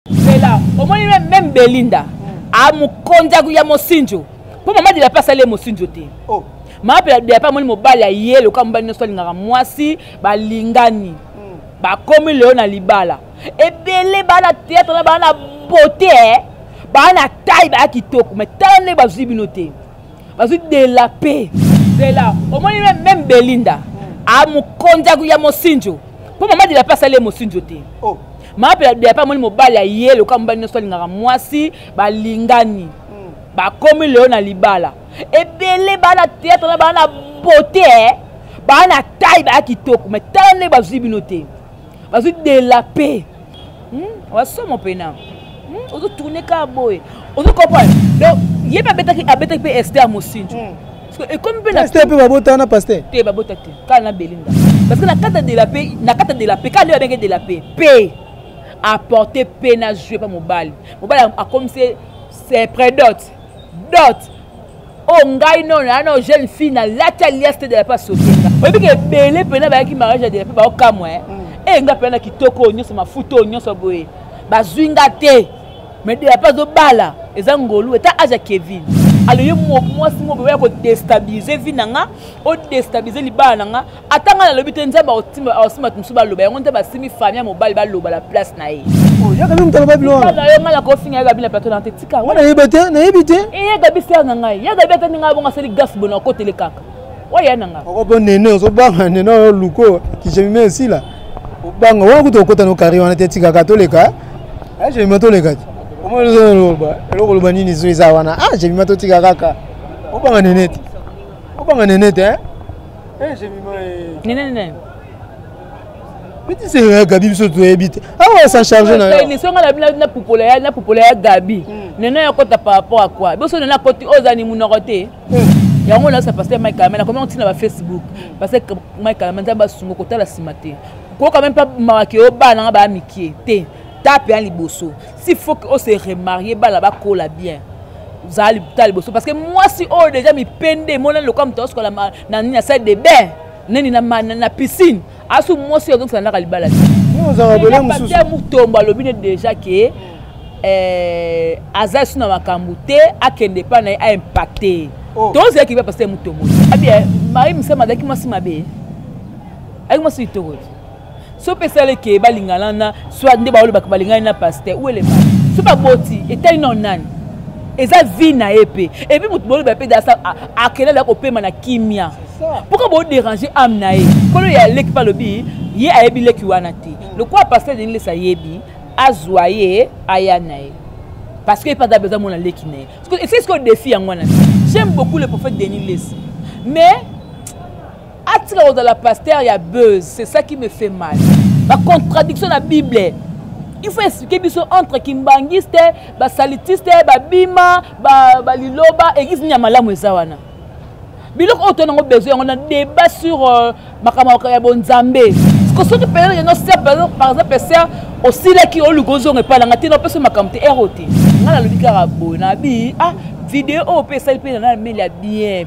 zela omoni meme belinda amokonzi ah, ya mosinjo mpo mama dilape asali ye mosinjo te oh. mama dilape amoni mobali aye lokola mobali nyonso alingaka mwasi balingani hmm. bakomi lelo na libala ebele baa na teatre na baa na bote eh. baa na tai baya kitoko mai tala ndenge bazwi bino te bazwi de la paix zela omoni meme belinda amokonzi ya mosinjo mpo mama de la paix asali ye mosinjo te oh. mama mpe de la paix amoni mobali ya ye lokola mobali nyonso alingaka mwasi balingani hmm. bakomi lelo na libala ebele baa na teatre na baa na bote eh. baa na tai baa kitoko mai tala ndenge bazwi bino te bazwi de la paix hmm? wasomo pena hmm? ozo tourne ka boye ozo comprendre donc ye mpe abetaki abetaki mpe ester mosinjo hmm. ekomi mpe naster mpe babota na paster te babota te kala na belinda parce que na kata de la paix na kata de la paix kala nde babenge de la paix paix apporte paix na jeu mpa mobali mobali akomisi se predote dot oyo oh, ngai nono na nao jeune fille nalati alias te de la pa sotenga oyebi ke ebele mpena bayaki mariage ya de la pe baokamwa e mm. eh, nga mpena na kitoko oyo nyonso mafuta oyo nyonso boye bazwi nga te me de la pa azobala eza ngolu eta age ya kevin alo ye mwasi moko oya kodestabilize vi na nga odestabilize libala na nga ata ngai nalobi te nzambe akosimba bato mosusu baloba yango nzambe asimbi fami ya mobali baloba na place na ye nayebi te nayebi te eyagabi eh, ser na ngai yagabi ata ndenge abongo asali gas bona okotele kaka oya na ngai okopo nene ozobanga nene oyo luko kijemime esila obanga wana kutu okota no kari wana te tikaka toleka ah, jemima toleka te omoloba eloko loba nini zo eza wana ah jemima totika kaka obanga nene te obanga nene te eh? Eh, j'ai mis moi. Nene, nene. bitisa ya gabi biso toyebi te awa ah sa charge na yo émission nga na pupola ya na pupola ya gabi hmm. nene ya kota par rapport à quoi biso nene akoti oza ni munoko te hmm. yango na sa pasteur Mike Amena comment on tient na Facebook hmm. parce que Mike Amena nzamba sungo kotala sima te ko quand même pas mawaki obana nga ba mikie te tape ya liboso si faut o se remarie bana bakola bien zala libuta liboso parce que mwasi oyo deja mipende emonani lokola moto aosukola na nini na salle de bain nani na piscine asu mwasi oyo azongisana naka libala te mutombo alobi ne deja ke eh, aza esu na makambo te akende epai na ye aimpacte oh. tozalaki mpe paster mutombo abie eh, marie misama azalaki mwasi mabe azalaki mwasi litoko so mpe esala eke balingana na soit nde baolobaka balingani na paster ou elema so baboti etali nao nani eza vie na ye mpe epuis moto boloba mpe dasa akelala ya kopema na kimia pourkui boderange ame na ye kolo ya leki mpe alobi ye ayebi leki wana te lokola paster denilesi ayebi azwa ye aya na ye parce que ye mpe aza besoin mona leki na ye esiki sikoyo defi yango wana j'aime beaucoup le prophète denis lesi mais atika kozala pasteur ya buzz c'est ça qui me fait mal bacontradiction na bible il faut expliquer biso entre kimbanguiste basalitiste babima baliloba ba eglise nini ya malamu eza wana biloko oyo toyango besoin yango na débat sur euh, makambo ya bonzambe soki mpenza yango ser par exemple ser osilaki oluka ozonga epai na ngai te napesi makambo te ero te ngai nalobi kaka boye nabi ah video oyo mpe esali mpe na nameli ya bien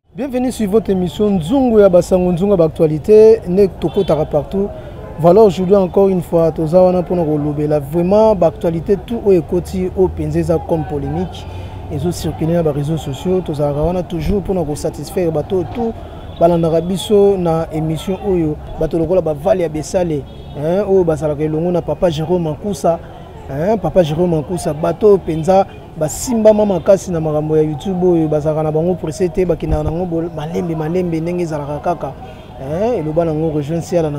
Bienvenue sur votre émission Nzungu ya Basango Nzungu Actualité ne tokotaka partout. Voilà aujourd'hui encore une fois toza wana pona ko lobela vraiment ba actualité tout oyo ekoti au penzeza comme polémique ezo circuler na ba réseaux sociaux tozalaka wana toujours pona ko satisfaire bato tout balandaka biso na émission oyo bato lokola ba Vale ya Besale hein oyo bazalaka elongo na papa Jérôme Mankusa hein papa Jérôme Mankusa bato penza basimbama makasi na makambo ya youtube oyo bazalaka na bango presse te bakendaka nango malembe malembe ndenge ezalaka kaka eh, eloba nango rejoin siala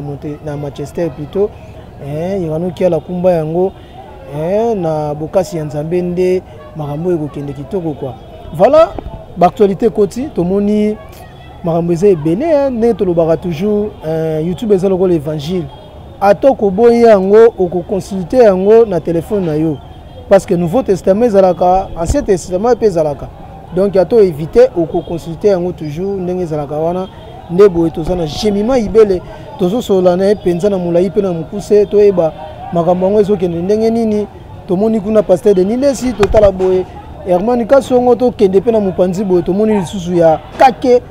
na manchester plutôt eh, yekanoki ala kumba yango eh, na bokasi ya nzambe nde makambo oyo ekokende kitoko kwa voilà baactualité ekoti tomoni makambo eza ebele ndenge tolobaka toujours youtube eza lokola évangile ata okoboyi yango okoconsulte yango na telefone na yo parce que nouveau testament ezalaka ancien testament mpe ezalaka donc ya to éviter okoconsulte yango toujours ndenge ezalaka wana nde boye toza na gemima ibele tozosolola na ye mpenza na molai mpe na mokuse toyeba makambo yango ezokende ndenge nini tomoni kuna paster de nilesi totala boye hermani kasongo tokende mpe na mopanzi boye tomoni lisusu ya kake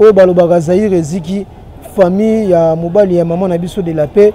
oyo balobaka zaire eziki famille ya mobali ya mama na biso de la paix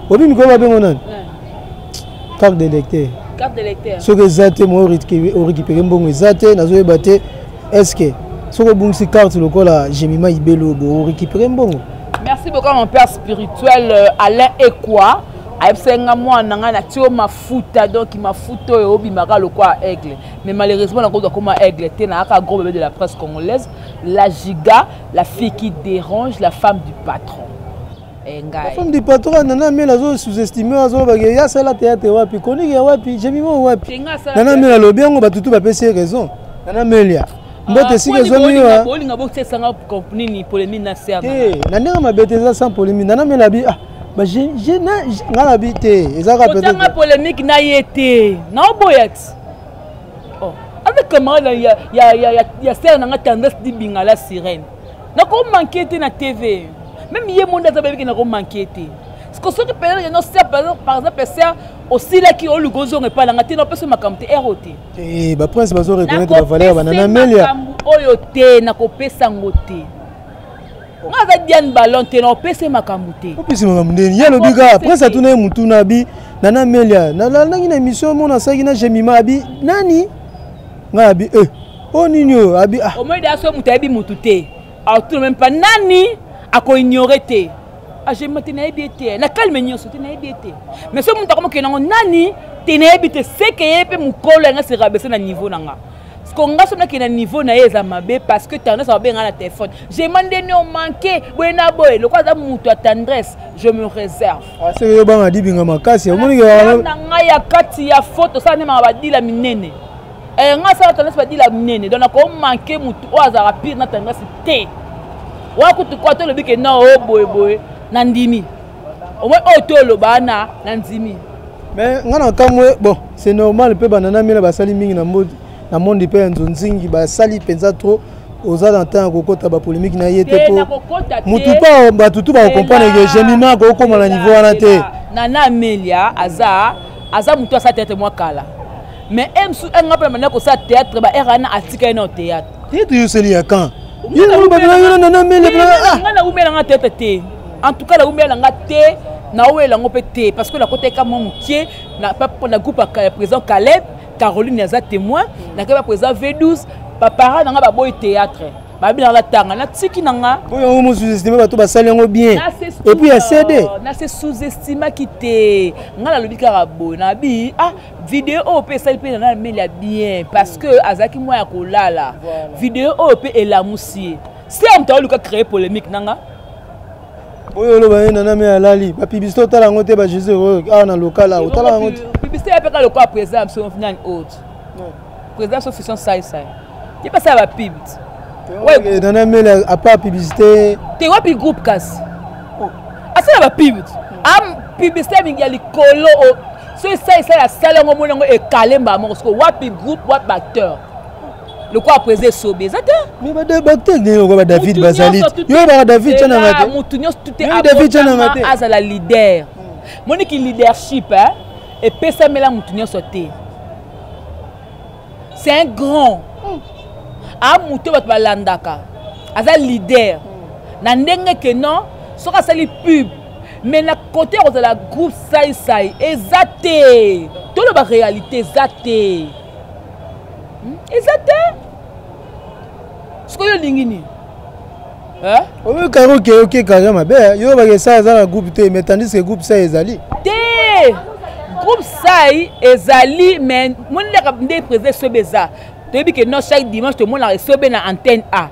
obi mikolo babengo nani carte de lecteur soki eza te moi orécupere mbongo eza te nazoyeba te est ce que soki obungisi carte lokola gemima ibelo bo orécupere mbongo merci beaucoup mon père spirituel euh, alain ekwa ayebisaki nga mwana na ngai natio mafuta donk mafuta oyo obimaka lokola aigle mais malheureusement nakoki akoma aigle te nayaka gros bebe de la presse congolaise la giga la fille qui dérange la femme du patron Eh, la femme du patron à Nana Mela azo sous-estimé azo ba que ya sala théâtre wapi chronique ya wapi j'ai mis mon wapi Nana Mela lobi yango ba tutu ba pesi raison Nana Mela ah, mbote esika ezwami wa bolinga bokesanga nini polémique na serbe eh na ndenge mabe te eza sans polémique Nana Mela bi ah ba je je na nga na bi te eza ka peut-être otanga polémique na ye te na oboya ti oh avec camarade ya ya ya ya serbe na nga tendresse di bingala sirène nako manke te na tv meme ye monde aza bayebi ke nako manke te siko soki mpenza yeno ser par exemple ser osilaki oluka ozonga epai nanga te napesa makambo te ero te eh, baprince bazo reconnaître bavaleur banana melia oyo te nakopesa yango te nga aza diane ballon te naopesa ye makambo te opesi makambo ndeni ye alobi kaka prince atuna ye motuna abi nana melia nalandaki na émission mona asalaki na jemima abi nani ngai abi e eh. oyo nini oyo abi ah. omoi deya soki moto ayebi motu te aotuna meme pa nani akoignore te ajema ah, te nayebi ye te na kalme nyonso te nayebi ye te mais soki moto akomokende yango nani te nayebi te seke ye mpe mokolo yanga se rabese na niveau na nga ko nga soki nakende na niveau na ye eza mabe parce que tendresse ababenga na téléphone jema nde ne omanke boye na boye lokola aza moto ya tendresse je me réserve ah, soki oyobanga dibinga makasi omonike na ngai ya kati ya foto osala nde maka badila minene eh, nga asala tendance badila minene donc nakoo manke motu oyo azalaka pire na tendance te oya kutu kwa tolobi ke na o oh, boyeboye na ndimi omoi oyo oh, toloba na na ndimi mais nga na kamwe bon c'est normal mpe banana miela basali mingi na modi na monde mpe ya nzonzingi basali mpenza trop oza na ntango ya kokɔta bapolémike na ye te mpo motu mpo bato tu bakokomprendre ke gemima akokoma na niveau wana te nana amelia aza aza motu asala tete mwa kala mais emsu eh, nga mpe na banda kosala théâtre ba rna atika ye nao théâtre théâtre yoseli ya kan nga naumela nga théâtre te en tout cas naumela nga te nawelela yango mpe te parce que nakoteka mwa mokie na groupe ya président caleb caroline aza témoin nakei ba président v12 bapara na nga baboyi théâtre babi nanga natanga natiki na nga oyo yango mosuzestime bato basali yango bien epuis ya cd nase sous-estimaki te ngai nalobi kaka boye nabi ah video oyo mpe esali mpe nana ameli ya bien parce que azalaki mwa ya kolala video oyo mpe elamusi ye se ya moto aoluka créer polémique nanga oyo oloba ye nana me alali bapibisite otala yango te bajesus oyo awa na lokala otala yango te pibisite yapeka lokola président ya biso nani autre Président sauf son sai sai. Ye pas ça va pub. Ouais, dans la mail à pas publicité. T'es wapi groupe casse. Oh. Ah ça va pub. Ah publicité mingi ya likolo oh. soki esalisala asali yango omoni yango ekale mbala moko soko wapi groupe wapi baacteur lokola presa esobe eza te baacteur ndenge lokola badavid bazali yo baka david cananga te motu nyonso tute david cananga te azala leader moniki leadership epesamela motu nyonso te c'est un grand hmm. a moto bato balandaka aza leader hmm. na ndenge ke non soki asali pub mais na kote ya kozala groupe saisai eza te toloba réalité eza te hmm? eza te sikoyo olingi nini Hein? Oyo karo ke yo ke karo mabe eh? yo ba ke sa za na groupe te mais tandis que groupe sa ezali. Te. Groupe sai ezali mais moni la nde président sobe eza. Toyebi que non chaque dimanche to mona sobe na antenne A.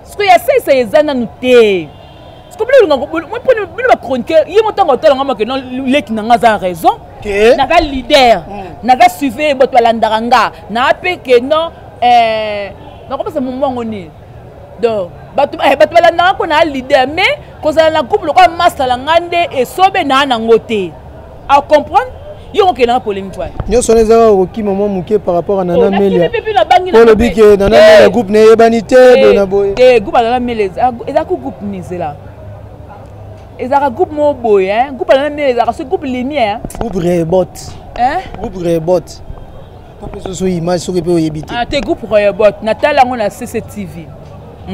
Ce que ya sai sai eza nanu te. Ce que bino ngako moi poni bino ba chroniqueur ye mo tango tala ngama que non leki na ngaza raison. Ke. Na ga leader. Mm. Na ga suivre boto landanga. Na pe que non eh nakopesa mombongo nini donc bato eh, bato balandaka mpo naa leader mais kozala na groupe lokola masala ngai nde esobe naa nango te acomprendre yo kokendaka polemique wana nyonso wana ezaka kokima mwa moke par rapport a nana oh, melia olobi ke nana eh. melia groupe neyebani te eh, boye na boye te groupe ya nana melia ezaka groupe mizela ezalaka groupe moko boye groupe ya nana melia ezalaka so groupe limie groupe rebot groupe rebot opesoso image soki mpe oyebi te ah, te groupe royobot natala yango na cctv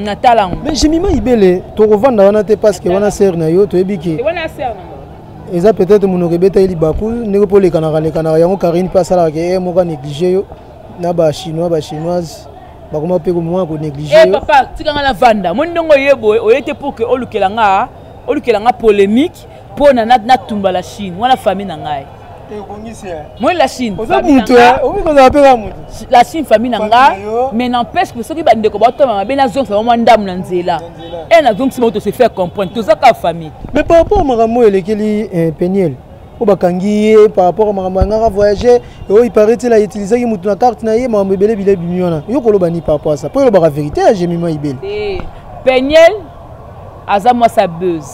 natala yango mais jimima ibele tokovanda wana te parce que wana sere na yo toyebi ke eza peut-être monoko ebeta ye libaku ndenge mpo olekanaka lekanaka yango karine mpe asalaka ke eh, moko anéglige yo na bachinois bachinoise bakoma mpe komoma konéglige eh, yo papa tika nga na vanda moni ndenge oye boye oye te pour ke olukela nga olukela nga polémique mpo na natumba la chine wana famille na ngai moi la chine la chine famille na nga mais n'empêche que soki bandeko baotoma mabe nazongisa bango mwa ndambo na nzela e nazongisi bango tose faire comprendre toza kaka famille mais par rapport makambo oyo elekeli eh, peniel oyo bakangi ye par rapport makambo yangaka voyage oyo iparetil autilisaki motu na carte na ye makambo ebele bile bimi wana yo koloba ni par rapport asa mpo elobaka verité ya gemima ibele peniel aza mwasi ya buzz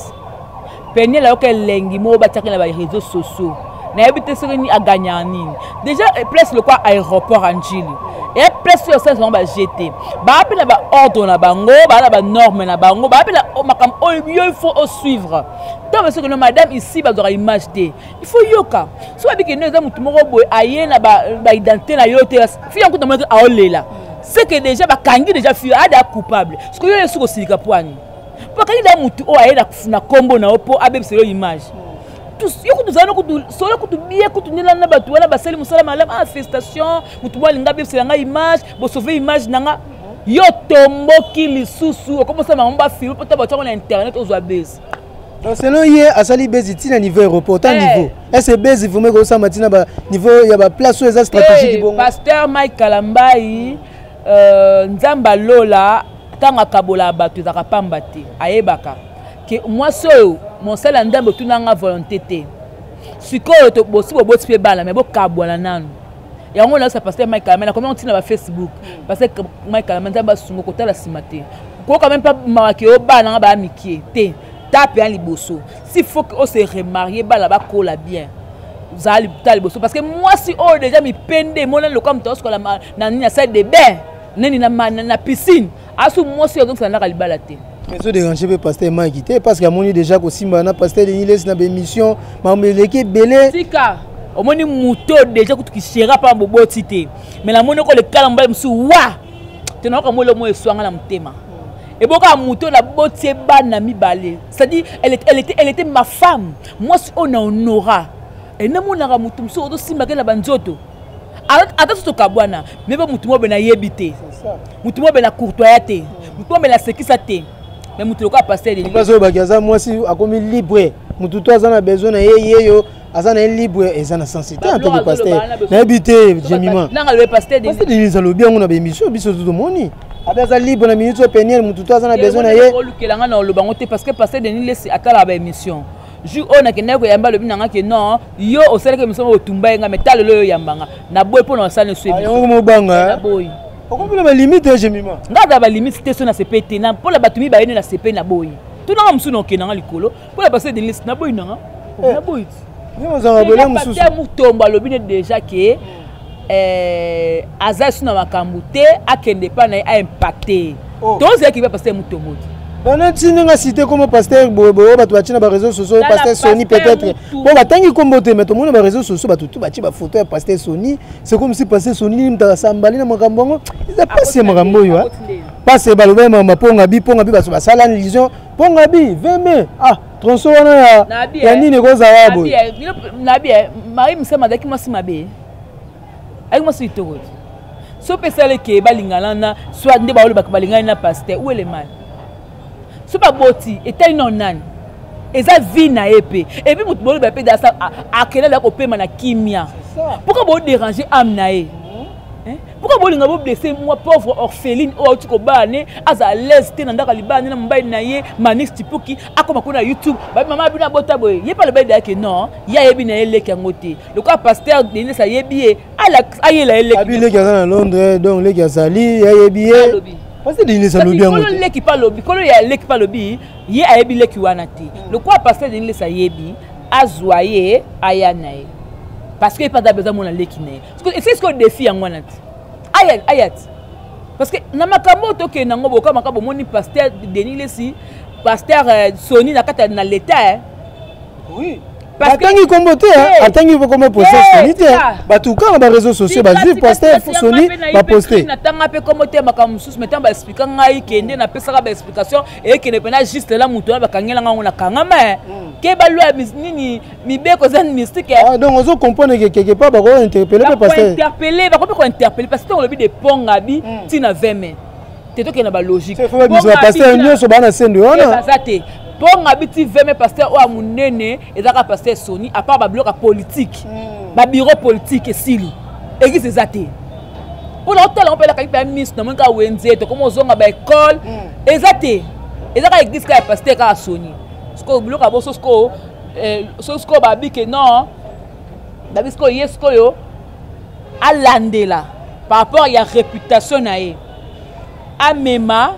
peniel ayoka elengi moko batiaki na bareseau sociaux nayebi te soki nini aganyaka nini déjà eh, place lokwa aéroport ya njili eya place oyo osalisa bango baje te baa mpe na baordre na bango baa na banorme na bango baa mpe na oh, makambo oyo oh, yo il faut osuivre ntango basi okende madame ici bazwaka image te il faut yoka soki abikende eza motu moko boye aye na baidentité na yo te fi yankuta monaki aolela seke deja bakangi deja fio ada coupable sikoyo yo esuki osilika pwani mpo akangi da motu oyo aye na nkombo na yo mpo abebisa yo image yo kutu ozali kutu solo kutu bie kutu ndela na bato wana basali mosala malamu ah festation motu mwa alinga abebisela ngai image bosauve image na nga yo tomboki lisusu okomosala bango bafilme mpo ta bato yango na internet ozwa bese donc selon ye asali bezi ti na niveau aéroport ta eh. niveau ese bezi vraimen ekosamba ti na baniveau ya baplace oyo eza stratégique eh, bongo pasteur mike kalambai euh, nzambe alola ntango akabolaka bato ezalaka mpamba te ayebaka ke mwasi oyo mosala ya nzambe otunanga volonté te sikoyo bosi boboti mpe bana me bokabwana nanu yango olakisa pasteur mike kalame nakomi yango ntina ba facebook hmm. pasteur mike kalame nzambe asunga kotala nsima te koyoka meme mpa mawaki oyo bana nga baya mikie te tape ya liboso si faut que ose remarie bana bakola bien zala ta liboso parce que mwasi oyo deja mipende emonani lokola moto aosukola na nini na salle de bain neni na piscine asu mwasi oyo azokisa ndaka libala te ezo dérange mpe pasteur mike te parce que amoni déjà kosimba na pasteur denis lesi na baémission makambo eleki ebele tika omoni moto déjà kutu kisera mpa boboti te me namoni oko lekala mobali mosusu wa te nayoka mwa eloko moko eswanga na motema ebokaka moto naboti ye bana mibale c'est-à-dire elle était, elle était, elle était ma femme mwasi oyo na honora enamonaka moto mosusu ozosimbaka ye na banzoto ata soki tokabwana meba motu mobe nayebi te motu mobe na courtoya te motu mobe nasekisa te me motu lokola pasteloyo baki aza mwasi akomi libre motu to aza na besoin na ye yeyo aza na ye libre eza na sensi te anteke paster nayebi te jemimapasterdenise alobi yango na baémission biso to tomoni abe aza libre na minute oyo peniel motu to aza na besoin na ye olukelanga na oloba yango te parce que paster denis lesi atalaka baémission jour oyo nakendaki koyamba alobi na nga ke non yo osalaki emission moko otumba ye nga mais talelo yo oyamba nga naboyi mpo na osali nso yango mobanga eh? naboyi okomona balimite ya jemima nga aza balimite te so na sepe te mpo na bato mibale nde na sepe na boyi tunanga mosusu na okenda nga likolo mpo na base denise naboyi nanga eh. naboyi ti ozanga bole mosusu mutombo alobi ne déjà ke eh, aza lisusu na makambo te akende epai na ye aimpacte oh. tozalaki mpe paster moto moti bana ti ndenge asite nkombo paster boyeboye bato batie na bareseau sociaux paster sony peut-être mpo batangi nkombo te mai tomoni na bareseau sociaux bato tu batie bafoto ya paster sony c'est comme si paster sony nini mutaka sambali na makambo yango eza mpasi ya makambo oyo pasi balobai makambo ya mponga bi mponga bi bato basala lision mponga bi veme ah tronso wana ya nini ekozala boye nabi eh, marie mosema azalaki mwasi mabe ayaki mwasi litoko te so pesala eke balingana na soit nde baolobaka balingani na paster ou elemani so baboti etali nao nani eza vie na ye mpe epuis moto boloba mpe dasa akelala kopema na kimia mpoka boderange ame na ye Eh? pourkoi bolinga boblesse mwa pauvre orpheline oyo auti kobala ne aza alaise te na ndako alibala ne na mobali na ye manix tipuki akoma kuna na youtube babi mama abino abota boye ye mpe alobali dayake non ye ayebi na ye leki yango te lokola paster denis ayebi ye ayela ye lekiabi leki aza na londres donc leki azali ayebi ye pasi denis alobi yango kolo leki mpe alobi kolo ya leki mpe alobi ye ayebi leki wana te hmm. lokola paster denis ayebi azwa ye aya na ye parce que ye mpe aza besoin mona leki na ye esi sikoyo defi yango wana te ayat ayat parce que na makambo oyo tokende nango boka makambo omoni pasteur denis lesi pasteur euh, soni na kati na leta eh. oui atangi kombo te atangi kombo poste soni te bato kaka ba réseau sociaux bazwi poste soni baposte natanga mpe kombo te makambo mosusu metango baexplika ngai kende napesaka baexplication eyekende mpena juste lela moto wana bakangela ngai yango na kangama eh. mm. keba lwa nini mibeko eza mystique eh. ah, donc ozo comprendre que quelque part bako interpeller pe pasteur interpeller bako pe ko interpeller parce que olobi de ponga bi hmm. tina 20 mai te to kena ba logique c'est vrai biso pasteur nyoso bana sendo wana eh, baza te ponga bi ti 20 mai pasteur oa munene ezaka pasteur Sony à part ba bloc politique hmm. ba bureau politique esili église eza te mpona otala ngo mpe elakaki mpe ya miso namoni kaka wenze tokoma ozonga baekole hmm. eza te eza kaka eglise kaka ya paster kaka soni sikoyo biloko ya boso sikoyo eh, soki sikoyo babi ke non babi sikoyo ye sikoyo alandela par rapport ya réputation na ye amema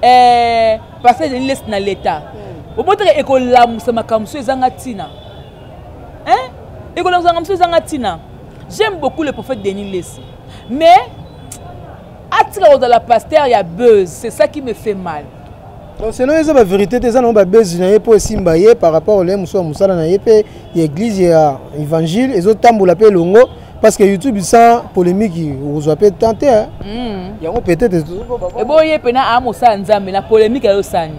eh, passage ya lilesi na leta hmm. obotaka ekolamusa makambo so ezanga ntina ekolamusa makambo so ezanga ntina j'aime beaucoup le prophète denis lesi mais atika kozala pasteur ya buzz c'est ça qui me fait mal donc selon eza ba vérité te eza nango babezi na ye mpo esimba ye par rapport olaye mosusu ya mosala na ye mpe ya église ya évangile ezotambola mpe elongo parce que youtube sans polémique okozwa mpe temps te hmm. yango peut-être eboye mpe na aa mosala nzambe na polémique ayosani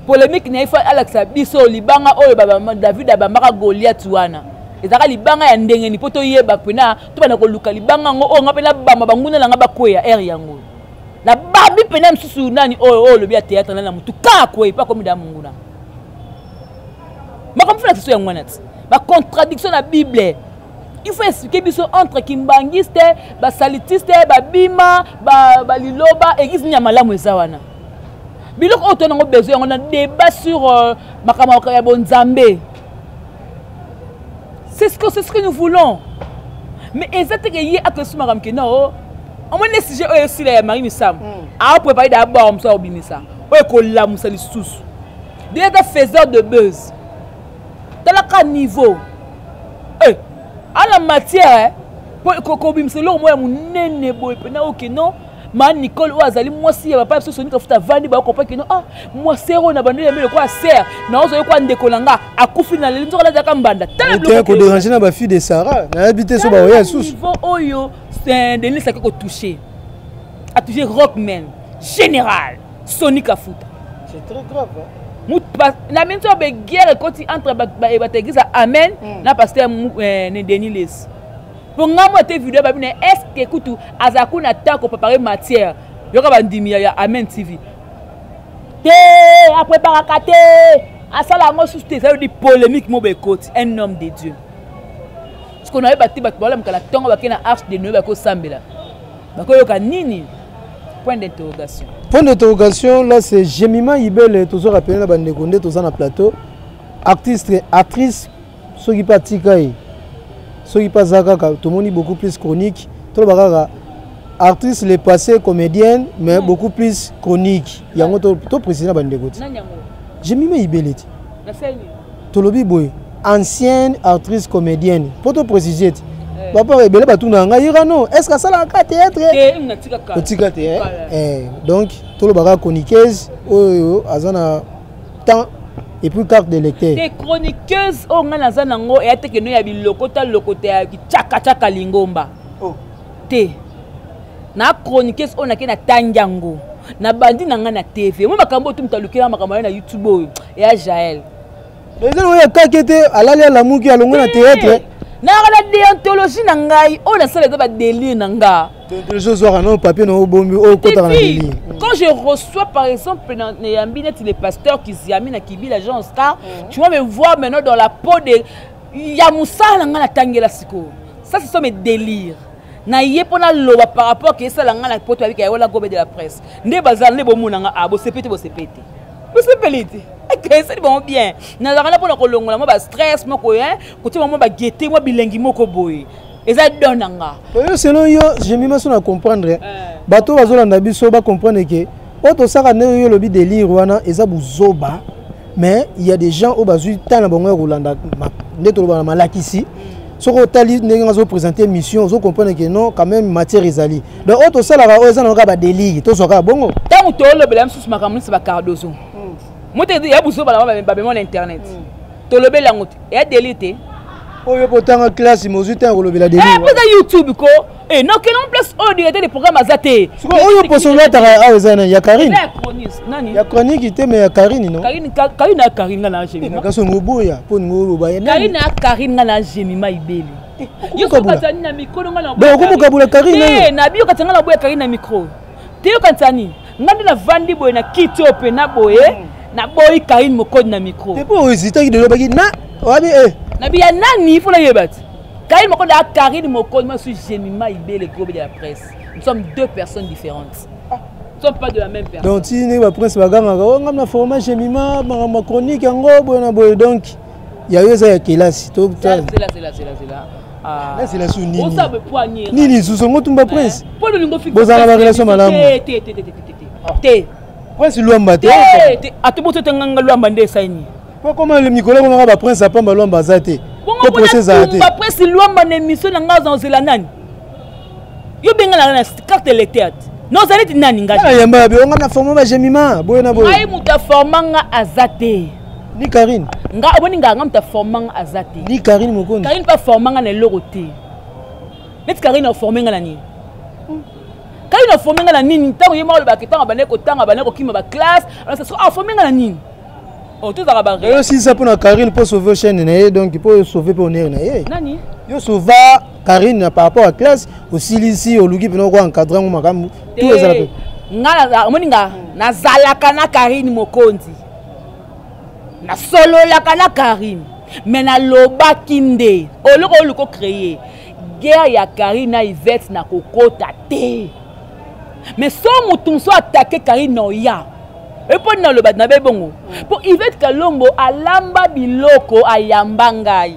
polémique na ye fa alakisa biso libanga oyo david abambaka goliath wana ezalaka libanga ya ndenge ni mpo toyeba mpena tobanda koluka libanga yango oyo nga mpe nabamba banguna na nga bakweya ere yango na bambi pena misusu nani oyo oyo olobi ya théâtre nani na motu kaka koye mpe akomi da monguna makambo fela kiso yango wana ti bacontradiction na bible il faut expliquer biso entre kimbangiste basalitiste babima baliloba ba eglise nini ya malamu eza wana biloko oyo to nango besoin yango na débat sur euh, makambo ya bonzambe c'est ce que c'est ce que nous voulons mais eza te ke ye akesi makambo ke nao oh, omoni nde sujet oyo esila ya marie misamu hmm. aoprepare da abwaka mosusu akobimisa oyo ekolamusa lisusu deja eza faiseur de buzz talaka niveau eh, ala matière eh, kobimisa eloko moko ya monene boye mpena oke non ma nicole oyo azali mwasi ya papa ya biso soni kafuta avandi bakopaki no ah mwasere oyo na bandeli yambe lokola sere na ozali kwa ndeko na nga akufi na leli nzoka nazalaka mbanda talakoderange na bafille de sara nayebi te so baoya lisusu niveau oyo eh, denis ake kotouche atouche rockman général soni kafuta na minso ya beguerre ekoti entre bateglise ya amen hmm. na paster eh, denis lesi mpo ngai mwa te video babi na estce kutu azala kuna ta kopapare matière yoka bandimi ya amen tv te apreparaka te asala yango susu te eza yodi polémique mobo ekoti un homme de dieu sikoyo nayeba te bato baolamika na ntongo bakei na arche de noe bakosambela bakoyoka nini point d'interrogation point d'interrogation là c'est gemima ibele tozo rappele na bandeko nde toza na plateau artiste actrice soki mpe atika ye soki mpe aza kaka tomoni beaucoup plus chronique toloba kaka artiste le passé comédienne mais mm. beaucoup plus chronique yango toprécise na bandeko ti jemime ibele ti tolobi boye ancienne artiste comédienne mpo toprécise ti eh. papa ebele batuna ngai irano est ce que asalaka théâtre otika te eh? eh, donc tolobaka chroniqueuse oyo aza na temps et puis carte de lecteur te chroniqueuse oyo ngai naza nango eya te keno ya bilokota lokota ya cakacaka lingomba oh. te na chroniqueuse oyo nake natangi yango nabandi na ngai na tv moi makambo oyo tomuta lukela makambo ayo na youtube oyo eya jael eza nango ya kake te alali alamuki alongo na teatre nayaka na deontologie na ngai oyo nasala eza badelire na ngai quand je reçois par exemple neyambi neti le pasteur kiziami na kibila jean oscar mm. tu vas me voir maintenant dans la peau de ya mosala na ngai natangela sikoyo ça ce sont mes délires naye mpo naloba par rapport ke esala ngai na poto yabika yaola gobe de la presse nde bazala nde bomona ngai a ah, bosepe te bosepe te bosepeli te ekeseli bango bien nazalaka na mpo na kolongola mwa bastress moko kotia mwa bagete mwa bilengi moko boye eza don na nga yo selon yo jemima so na comprendre eh. bato oyo bazolanda biso bacomprendre ke oyo tosaka ndenge yo olobi delire wana eza buzoba mais il y a des gens oyo bazwi ntango na bango ya kolanda nde toloba na malakisi soki otali ndenge nga azopresente émission ozokomprendre ke non quand même matière ezali donc oyo tosalaka oyo eza na kaka badelire tozwa kaka bongo ntango tolobela misusu makambo nisi bacardozo moto ya buzoba na babemona internet mm. tolobeli yango te eya deli te oyo mpe otanga classe mozwi ntango kolobela deli eh, eza youtube ko eh, nakelon place oyo directeur de programme aza te oyo poso olataka awa eza nani ya karine ya chronique te mais ya karine no karine ya karine nga na jemimakaso ngo boya mpo ningo oloba ye karine ya karine nga na jemima ibeli eh, yokomokabola karine nabiyo katanga na boya karine na micro te yokanisa nini ngai nde navandi boye na kiti oyo mpena boye hmm. naboyi karine mokodi na micro epo oyo ezitaki lelobaki na wabi e nabi ya nani ifo nayeba ti karine mokodi ya karine mokodi moi suis gemima ibele globe de la presse nous sommes deux personnes différentes ah. sommes pas de la même personne donc ti ndenge baprince bagangaka o oh, ngai na format gemima makambo ya chronique yango boye na boye donc ya yo eza ya kelasi nasela su nini susu yango tumba prince bozala na barelation malamu prince lwamba te ata boso te nganga lwamba nde esaini po koma mikolo ekomaka baprince apamba lwamba aza te po prince ezala te prince lwamba na émission na ngai aza ozela nani yo bengalaka na carte electeur te na ozali ti nani ngayemba ya bionga na forma bajemima boye na boye ngai moto aforma nga aza te ni karine nga omoni ngaa nga moto aforma nga aza te ni karine mokonzi karine mpe aforma nga na eloko te neti karine aforme nga na nini karine aforme nga na nini ntango ye moko olobaka ntango abandaki kotanga abandaki kokima baklasse aforme nga na nini oh, tozalaka baosilisa mpo na karine mpo sauve chaine na ye donc mpo sauve mpe onere na ye nani yo sauva Karine par rapport à classe osilisi oluki pena ko encadrer ngo makambo tout ezala pe nga omoni nga nazalaka na Karine Mokonzi nasololaka na Karine mais nalobaki nde oloko oyo liko créer guerre ya Karine na Yvette na kokota te mais so motu mosusu atake Karine na oya epo nini naloba na be bongo mpo Yvette Kalombo alamba biloko ayamba ngai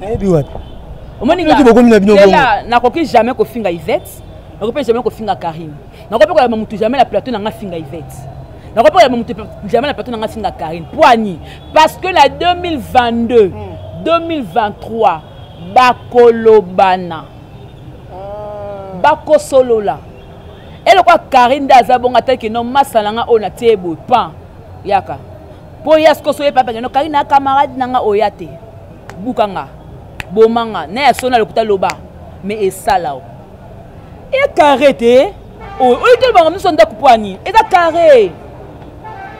nayebi wapi omoni nga bokomi na bino bongo nakoki jamais kofinga Yvette nakoki pe jamais kofinga Karine nakoki pe koyamba mutu jamais na plateau na nga finga Yvette nakoki pe koyamba mutu jamais na plateau na nga finga Karine poani parce que na 2022 mm. 2023 bakolobana ah. bakosolola elokwa Karine nde aza bongo ataki no masala nga oyo natie ye boye pan yaka mpo ya sikoso ye papakeno Karine na camarade na nga oya te buka nga boma nga na ya sona lokuta loba me esala o e carré te oyo oyo te bango miso ndako mpo ani eza carré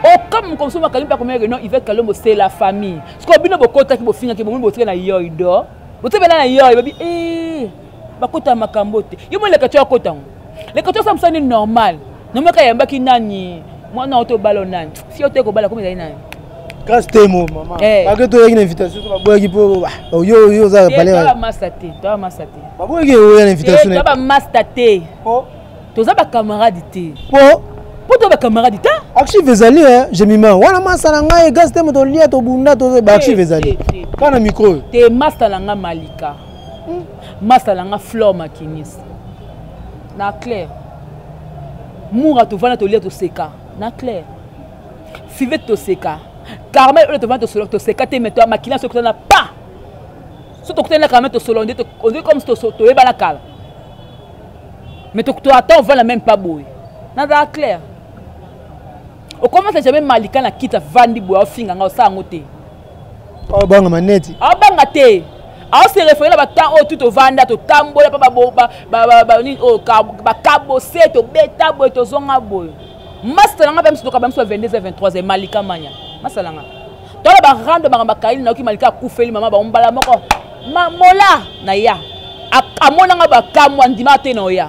okama mokongo mosusu makangi mpe akomeyake non ivete kalombo c'est la famille sikoyo bino bokotaki bofingaki bomoni botika na yoido botika bela na yoi babi e eh, bakota makambo te yo moleka ti akota yango leka tosa mosani normal nomaka yambaki nani mwana oto balo nani si oto ekobala komi ezali nani classe te mo mama eh. bake toyaki na invitation so baboyaki mpo oyo oyo oza palebamasta te toa masta te baboyaki oya na invitation toa bamasta te toza bacamarade te mpo mpo toa bacamarade te archive ezali gemima wana masta na ngai gaz te moto olia tobunda to baarchive ezali kaka na micro oyo te masta na ngai malika hmm. masta na ngai flor makinis na claire mura tovanda tolia toseka na claire fivete toseka carmel oyo tovanda tosolola toseka te meto makila soki tozana pa so tokutani na carmel tosolola nde onde comme toyebana kala mais toata ovanda meme pas boye nazala claire okomasa jamais malika na kita vandi boye ofinga nga osala yango te obanga maneti aobanga te aose refere na batemp oyo tu tovanda totambola mpa oyo bakabose tobeta boye tozonga boye masala nga mpe misutoka bamiso ya 22 23 malika manya masala nga tala barando banga bakaini nayoki malika akufeli mama bango mbala moko mola na ya amonanga bakamwa ndima te na oya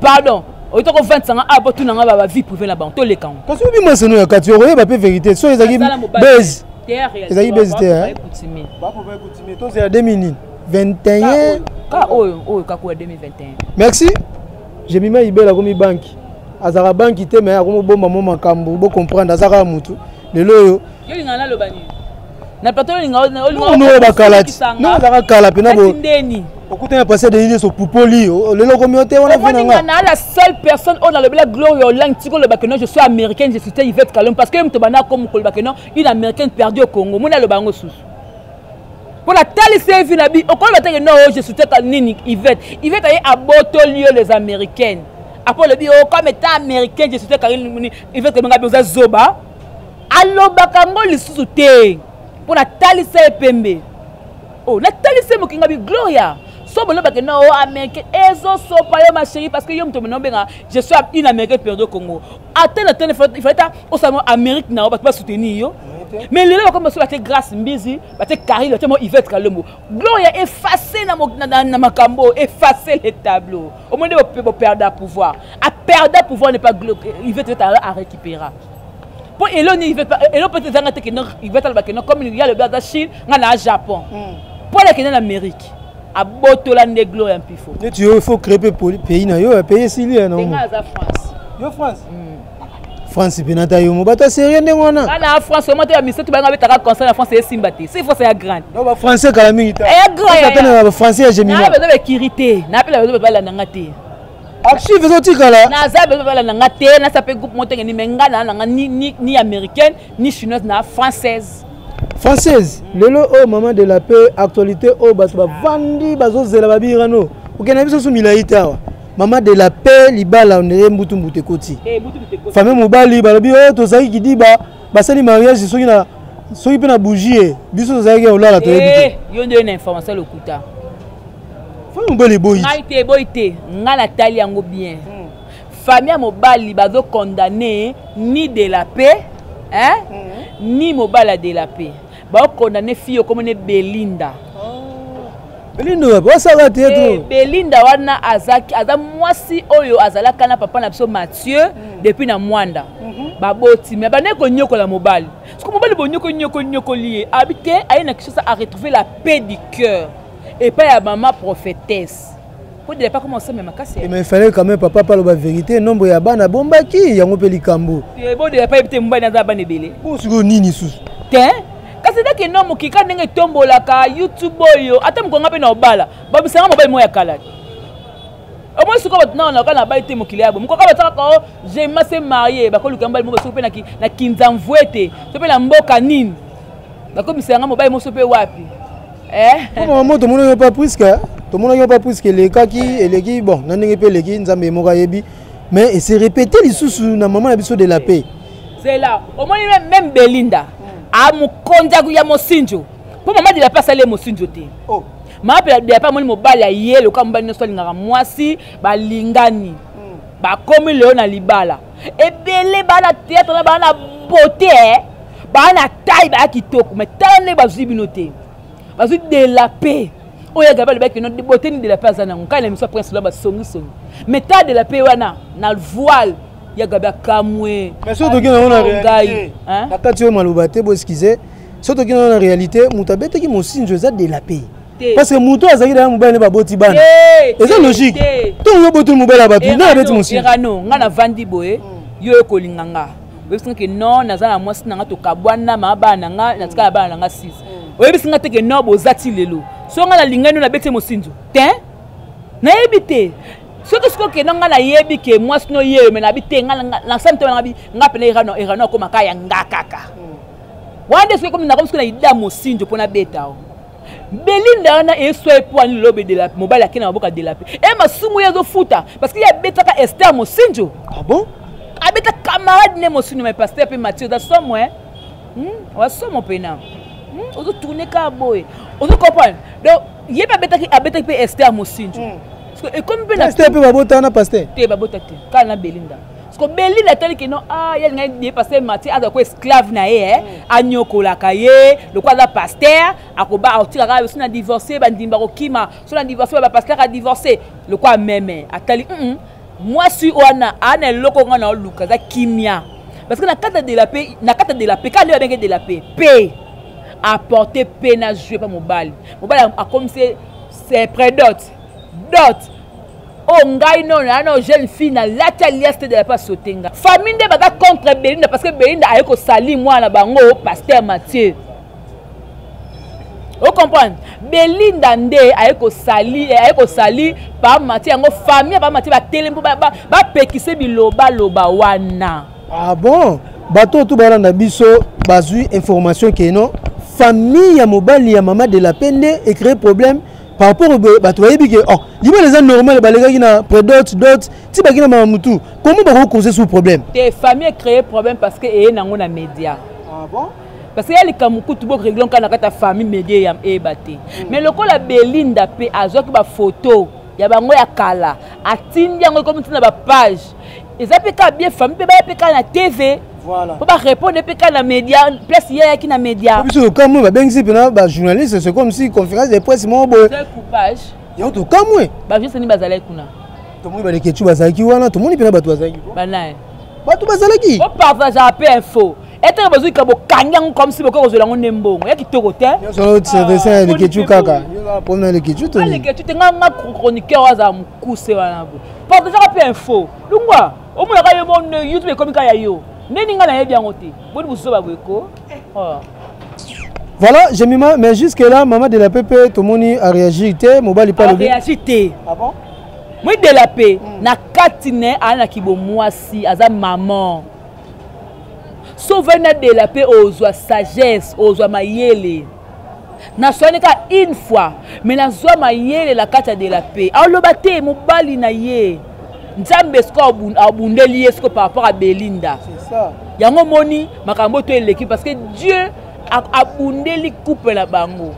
pardon oyita kovandisa nga awa botuna nga ba vie privé na bango toleka ngo kasi obi maseno ya kati okoyeba mpe verité so ezalaki base ezalaki base te eh? tozela 2000 21 ka oyo oyo kakoya 2021 merci jemima ibela akomi banki azalaka banki te me akomi obomba mo makambo bocomprendre azalaka motu lelo oyo na plateau olinga olinga bakala ti no bazaka kala pe na bo ndeni okuta na passé denis so pupoli lelo komi ote wana pe na nga na la seule personne on a le bla gloria olang tiko le bakeno je suis américaine je suis Yvette Kalom parce que mto bana comme ko le bakeno une américaine perdue au Congo mona le bango susu mpo natalisi ye vi na bi okoyeba teke no je souteka nini ivete ivete aye abotoli yo les américaines apo olobi o oh, comme état américaine je souteka nini ivete kobenga bi oza zoba alobaka yango lisusu te mpo natalisa ye pembe o oh, natalisa ye mokinga bi gloria so bolobake na o oh, américain ezosopa yo ma chérie parce que yo moto mena obenga je suis une américain perdu congo ata na tene ifale ta osala mwa amérique na yo bato basoutenir yo mais lelo bakomi baso bate grâce mbizi bate carine bate mwa ivette kalombo gloria efface na makambo efface le tableau omoi nde boperda pouvoir aperda pouvoir ne pas ivet vet arécupéra mpo elo nini elo peut ezanga te keno ivet aloba keno comme ya lobi aza chine ngai naa japon mpo hmm. alakende na amérique abotola nde glo ya mpifo neti yo il faut créer mpe pays na yo ya pays esili ya nango aza france yo france hmm. france mpe nata yomo bato ya serie ndenge wana bana france vraiment to ya misato bango abetaka concert ya france esimba te si france ya grande donc ba français kala mingi ta ya grande na ba français ya gemina na bezo bekiri te na pela bezo bala nanga te archive ezotikala naza bezo bala nanga te na sape groupe motenge ni menga na nanga ni ni ni américaine ni chinoise na française française mm. lelo oyo oh, maman de la paix actualité oyo oh, bato bavandi bazozela babirano okenda biso su milai te awa mama de la paix libala ondire mbutu mbutu ekoti eh, famille mobali balobi oyo oh, tozalaki kidiba basali mariage soki na soki mpe na bougie eh, biso tozalaki ya olala toyebi te eh, yo nde na information lokuta famille mobali eboyi ngai te eboyi te ngai natali yango bien hmm. famille ya mobali bazo condamne ni de la paix hein? Hmm. ni mobali ya de la paix baokondamne fille okomone belinda belinda wapi osala te to eh, belinda wana azaki aza mwasi oyo azalaka na papa na biso mathieu mm. depuis na mwanda mm -hmm. baboti me abandaki konyokola mobali soki mobali bonyoko nyoko nyokoli ye abi te aye na kishasa aretrouve la paix du cœur epai ya mama prophétesse Pour de pas comment ça mais makasi. Mais il fallait quand même papa parle la vérité, nombre ya bana bombaki yango pe likambo. Eh bon de pas ebite mbana za bana ebele. Pour ce que nini sous. Tiens kasi ndaki eno mokika ndenge etombolaka youtube oyo ata mokonga mpe na obala babisanga mobali moko ya kala omoi sikoyo bato nao naoka na bai te mokili yabo mokoka batakaka o oh, jema se marie bakoluka mobali moko soki mpe na kinzamvue te to mpe na mboka nini bakomisa yanga mobali moso mpe wapi eh? mama mo tomonaki yo mpa priske tomonaki yo mpa priske elekaki eleki bon na ndenge mpe eleki nzambe moko ayebi mais ese répété lisusu na mama na biso de la paix zela omoni meme belinda amokonzi ah, ya mosinjo mpo mama de la paix asali ye mosinjo te oh. mama mpe de la paix amoni mobali ya ye lokola mobali nyonso alingaka mwasi balingani hmm. bakomi leo na libala ebele baa na theatre na baa na beauté eh. baa na taille baa kitoko mais tala nde bazwi bino te bazwi de la paix oyo agabe alobaki no beauté ni de la paix aza nango nkai na miso ya prince lola basongisongi mais tala de la paix wana na voile ya gabi akamwe ngai nakati oyo maloba te boeskize soki toki nango na réalité moto abetaki mosinzo eza de la paix parce que moto oyo azalaki daya mobali nde baboti bana eza logique ntongo yo botoli mobali ya bato nde abeti mosuerano ngai navandi boye mm. yo ekolinga nga oyebisi nga ke non naza na mwasi na nga tokabwana maa bana na nga natikala bana na nga 6 mm. oyebisi nga te ke non boza ti lelo so ngai nalingani yo nabeti mosinzo te nayebi te soki soki okenda ngai nayebi ke mwasi no yeyo me nabi te nasami te ngai mpena erano erano akomaka ya nga kaka mm. wana nde soki ekomi nakomi soki na ida mosinzo mpo nabeta o belinda wana eswa epoani lobe de la mobali ake na maboka de la pe e masumu ye azofuta parce que ye abetaka ester mosinjo ah bon abeta camarade ne mosinjo mai paster mpe mathieu oza somo e hmm? oza somo mpena hmm? ozotourne kaka boye ozo comprendre donc ye mpe abetaki abetaki mpe ester mosinjo hmm. ekomi mpe na ester mpe babota wana paster te babota te kaka na belinda Parce que Beli la telle que non ah il y a une idée parce que Mathieu a quoi esclave na ye hein anyoko la kaye le quoi la pasteur akoba otira ka sina divorcer ba ndimba ko kima sina divorcer ba pasteur a divorcer le quoi meme atali mm moi suis wana ana loko nga na luka za kimia parce que na kata de la paix na kata de la paix ka le benge de la paix paix apporter paix na jouer pas mobali mobali akomse c'est prédote dot oyo oh, ngai nono ya nao jeune fille na lati alias te de la pa saute nga famille nde baza contre belinda parce que belinda aye kosali mwana na bango oh, paster mathieu ocomprendre belinda nde aye kosali eh, aye kosali pa mathieu yango famille ya pa mathieu batele mpo bapekise bilobaloba wana ah bon bato otu balanda biso bazwi information keno famille ya mobali ya mama de la pe nde ecree problème par rapport boye bato bayebi ke oh, libala eza normal balekaki na predot dot ti baki na mama mutu comment bakoki cause sous problème te famille ecree problème parce que eye nango na média ah bon? parce que ya likambo kutu boregle nka na kati ya famille média ya eyeba te hmm. mais lokola belinda mpe azwaki bafoto ya bango ya kala atindi yango ekomi ntina bapage eza mpe kaka bien famille mpe baya mpe kaka na tv mpo barépondre mpe kaka na média place ye ayaki na média biso tokamwe babengisi mpena bajournaliste c'est comme si conférence de presse moko boye coupage yango tokamwe bajournaliste nini bazalaki kuna tomoni balekecu bazalaki wana tomoni mpena bato bazalaki banaye bato bazalaki bopartageaka mpe info etenge bozwika bokangi yango comme si bokoki kozwela yango nde mbongo ya kitoko te lekecu kaka lekecu te nga chroniqueur azala mokuse wana bo partageaka mpe info lungwa omonaka yo mon youtube ekomi kaka ya yo nde ninga nayebi yango te boni bozoba boye ko oh. voilà jemima mais jusque là mama de la pepe tomoni aréagir te mobali pa lobiréagir te ah bon? moi de la pe mm. na kati ne aza na kibomwasi aza maman so ovandi na de la pe ozwa sagesse ozwa mayele naswani kaka une fois me nazwa mayele na kati ya de la paix aloba te mobali na ye nzambe siko abundeli ye siko par rapport ya belinda yango omoni makambo to eleki parce que dieu abundeli couple na bango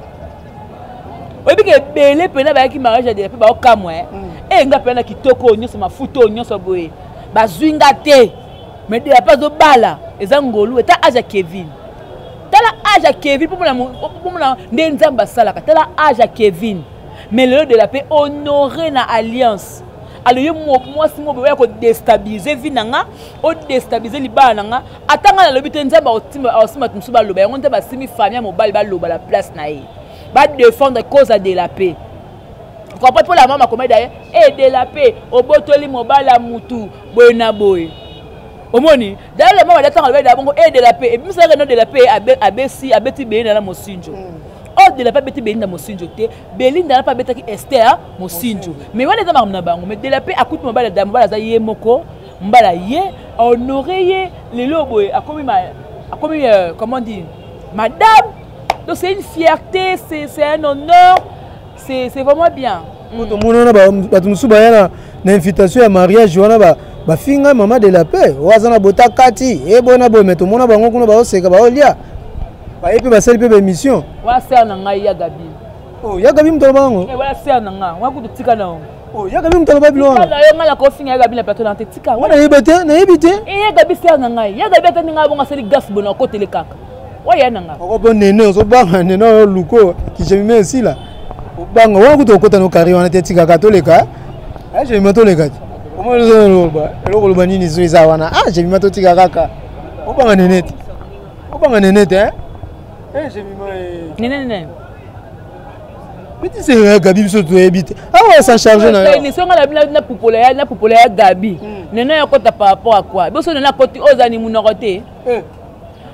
oyebi ke ebele mpena bayaki mariage ya de la paix baokamwa e mm. eh, nga mpena na kitoko oyo nyonso mafuta oyo nyonso boye bazwi nga te me de la paix azobala eza ngolu eta aza kevin tala age ya kevin pomona nde nzambe asalaka tala age ya kevin mais lelo de la paix honore na alliance alo ye mwasi moko boya kodestabilize vi na nga odestabilize libala na nga ata ngai nalobi te nzambe aosimba to mosusu baloba yango nzambe asimi famille ya mobali baloba na place na ye badefendre cause ya de la paix comprendre mpo la mama akomaki daye e eh, de la paix obotoli mobali ya motu boye na boye omoni dayala mama da ntango alobaki da bongo e de la paix ebimisaka no de la paix abesi abeti belinda na mosinjo mm. or de la paix abeti belinda mosinjo te belinda na mpe abetaki ester mosinjo mais wana eza makambo na bango mais de la paix akuti mobali da mobali aza ye moko mbala ye ahonore ye lelo boye akomi akomi euh, comment dire madame donc c'est une fierté c'est un honneur c'est c'est vraiment bien mm. tomona na bato mosusu baya na na invitation ya mariage wana ba bafinga mama de la paix oyo aza na bota kati eboye na boye me tomona bango kuna baoseka baolia baye mpe basali mpe baémission wana ser na ngai ya gabi oh, ya gabi moto aloba yango eh, wana ser na ngai wana kutu tika na yango oh, ya gabi moto aloba bilo wana yo ngai nakofinga ya gabi na plateau na te tika wana nayebi te nayebi te eh, ya gabi ser na ngai ya gabi atani ngai bongo asali gas bona okotele kaka oya na nga oko po nene ozobanga nene oyo luko kijemime esila obanga wana kutu okota no kari wana te etikaka toleka jemima toleka te omaloba eloko oloba nini zo eza wana a jemima totika kaka obanga nene te obanga nene te jemima nene nene bitiseka gabi biso toyebi te awa sa charge nayonapupola ya gabi nene yakota par rapport a quoi biso nene akoti oyo ozani monoko te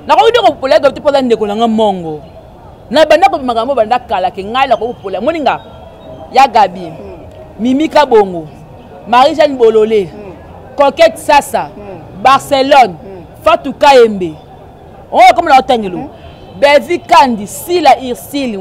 nakoki nde kopola gabi te mpo aza ndeko na nga mongo na banda kobi makambo oyo banda kala ke ngai nakoki kopola moni nga ya gabi mimi kabongo marie jeanne bolole coquette sasa barcelone fatu kayembe oyo akomi na otangelo bevi kandi sila irsile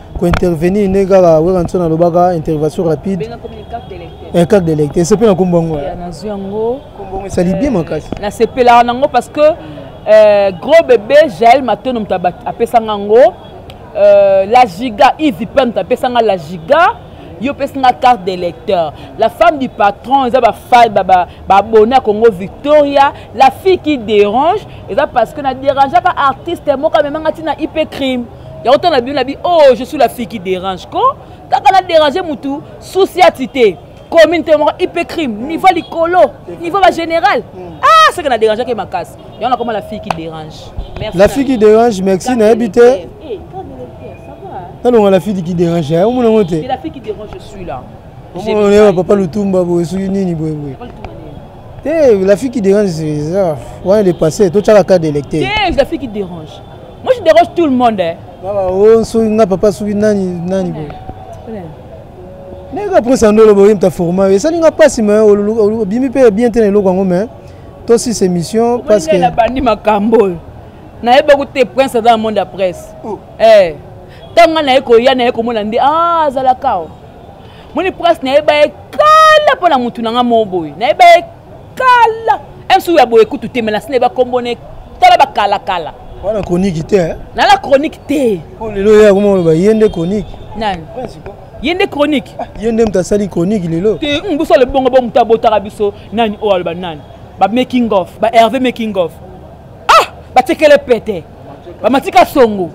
ko intervenir ne kaka wera nso nalobaka intervention rapide eh, carte de lecte esepe na kombo yango nazwi yango esali bien makasi euh, nasepelaka nango parce que euh, gros bebe jael matono moto apesanga yango euh, la giga ivi mpe moto apesanga la giga yo opesi nga carte de lecteur la femme du patron eza babone ya congo victoria la fille qui dérange eza parce que na dérangeaka artiste moko amemanga ntina ip crime yango ntango na bino na bi o oh, je suis la fille qui dérange ko kaka na dérange motu susi ati te commune te moko ipe crime niveau likolo niveau ba général hmm. ah seke na dérangeaki makasi yango nakoma la fille qui dérange la fille qui dérange merci nayebi te eh, eh, nalonga la fille qui dérange eh, omona yango te la fille qui dérange je suis là omona oyeba papa lutumba boye soki nini boye boye te la fille qui dérange eza wana le passé totyaka cas d'électeur la fille qui dérange Moi je dérange tout le monde. Hein. Baba oh soki nga papa soki nani nani bo. Nega prince andolo bo yimta format et ça ninga pasi mais obimi pe bien tena eloko yango mais to si c'est mission parce que na bandi makambo. Na yeba ko te prince dans le monde la presse. Oh. Eh. Tanga na yeko ya na yeko mona ndi ah zala kao. Moni prince na yeba ye kala pona mutu na nga mo boye. Na yeba ye kala msu ya boye kutu te melasina eba kombo ne tala bakalakala wana chronique te eh? nala chronique te oh, lelo ye akoma oloba ye nde chronique nani ye nde chronique ah, ye nde moto asali chronique lelo te mm, biso alobi bongo bo moto abotaka biso nani oyo oh, aloba nani ba making of ba herve making of ah batekele pete bamatika songo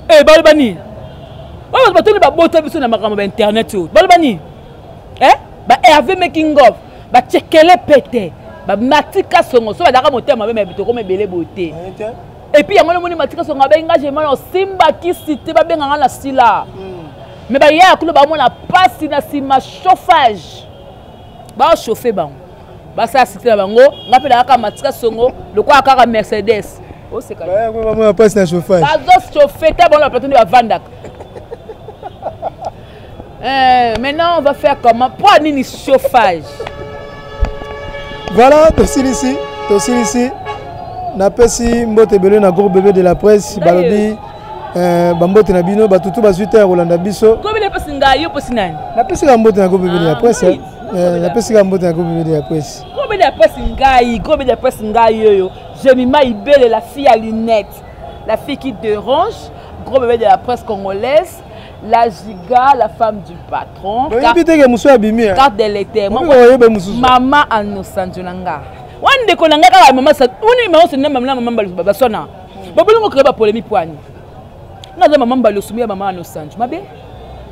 e eh, baloba nini oyo bato batoni babota biso na makambo ba internet oyo baloba nini e eh? ba herve making of bacekele mpe te matika songo so badaka motema mabe mabe tokoma ebele boye te epuis yango nomoni matika songo abengi nga gemana osimba kisi te babenga nga na sila me hmm. bayaya kulo bamona mpasi na nsima chauffage baochauffe bango basala site na bango nga mpe nakaka matika songo lokola kaka mercedes osekabamona mpasi na chauffage bazochauffe te bango na plateau nde bavandaka Euh, maintenant, on va faire comment Pour nini chauffage Voilà, tosilisi, tosilisi. napesi mbote ebele na groupe bebe de la presse balobi euh, bambote na bino bato tu bazwi te ya kolanda biso napesika mbote na groupe bebe de la ah, presse eh. euh, napesika mbote na groupe bebe de la presse groupe bebe de la presse ngai groupe bebe de la presse ngai oyo jemima ibele la fille à lunettes la fille qui dérange groupe bebe de la presse congolaise la giga la femme du patron oyebi teke mosusu abimi eh? carte de l'été oyebe mosusu mama anosanjo na nga wana ndeko na nga kaka mama wana mama osoni na mama na mama balusu baswana babolingo kreye bapolemik wani nga aza mama mbalusu ya mama anosanjo mabe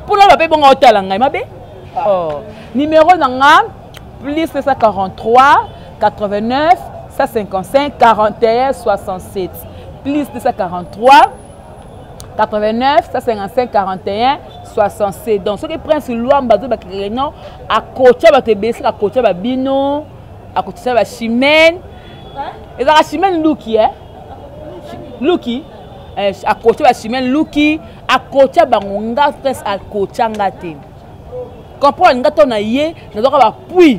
mpo na bape bonga otala ngai mabe ah. oh. numero na nga plus 943 89 155 41 67 plus 943 89 155 41 67 donc soki prince luamba azo bakekele non akotya bato ebele soki akotya babino akotisa bachimene ezalaka chimene luki e luki eh, akotya bachimene luki akotya bango nga prince akotya nga te comprendre nga to na ye nazwaka bapuis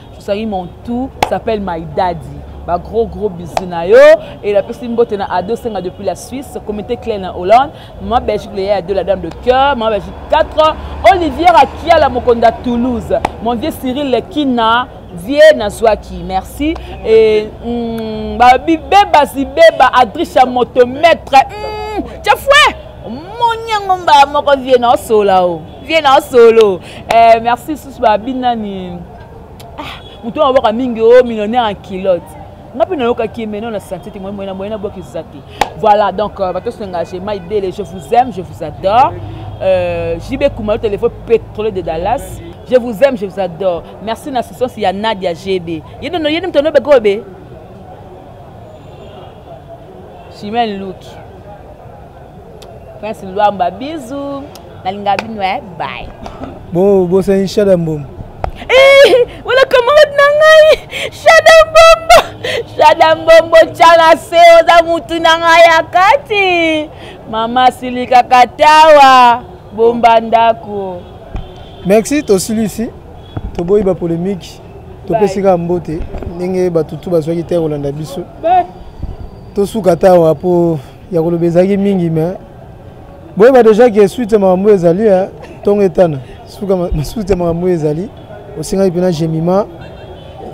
Sosaki mon tout s'appelle my daddy ba gros gros bisous na yo et la personne mbote na ado senga depuis la Suisse comité clé na Hollande ma Belgique le ya de la dame de cœur ma Belgique 4 Olivier Akiala Mokonda Toulouse mon vieux Cyril Kina vie nazwaki merci et mm, ba bibeba zibeba Adrisha moto maître mm, chafouet moni yango mbala moko vie na osola o oh. vie na solo eh, merci susu babi nani ah, moto wana bwaka mingi o oh, millionnaire en kilote nga mpe nayokaki mais non na santé te moyena moyena bwaki eza te voilà donc euh, bato sengage mai bele je vous aime je vous adore euh, jb kumalo téléphone pétrole de dallas je vous aime je vous adore merci na assistance ya nadia gb yenono yeni moto anobeka oyo be chimene luki prince luamba bisous nalinga bino eh bye bo bosani shada mbombo eh, wala camarade na ngai shada mbombo shada mbombo chala se oza mutu na ngai ya kati mama silikaka tawa bomba ndako merci tosilisi toboyi bapolemiki topesi kaka mbote ndenge batutu bazwaki te kolanda biso tosuka tawa mpo ya koloba ezalaki mingi mais boyeba deja ke suite ya makambo oyo ezali eh, ntongo etana suite ya makambo oyo ezali osengaki mpena gemima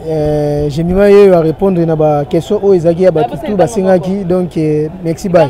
eh, gemima ye oyo arépondre na baquestion oyo ezalaki ya bato tu basengaki donc eh, merci bay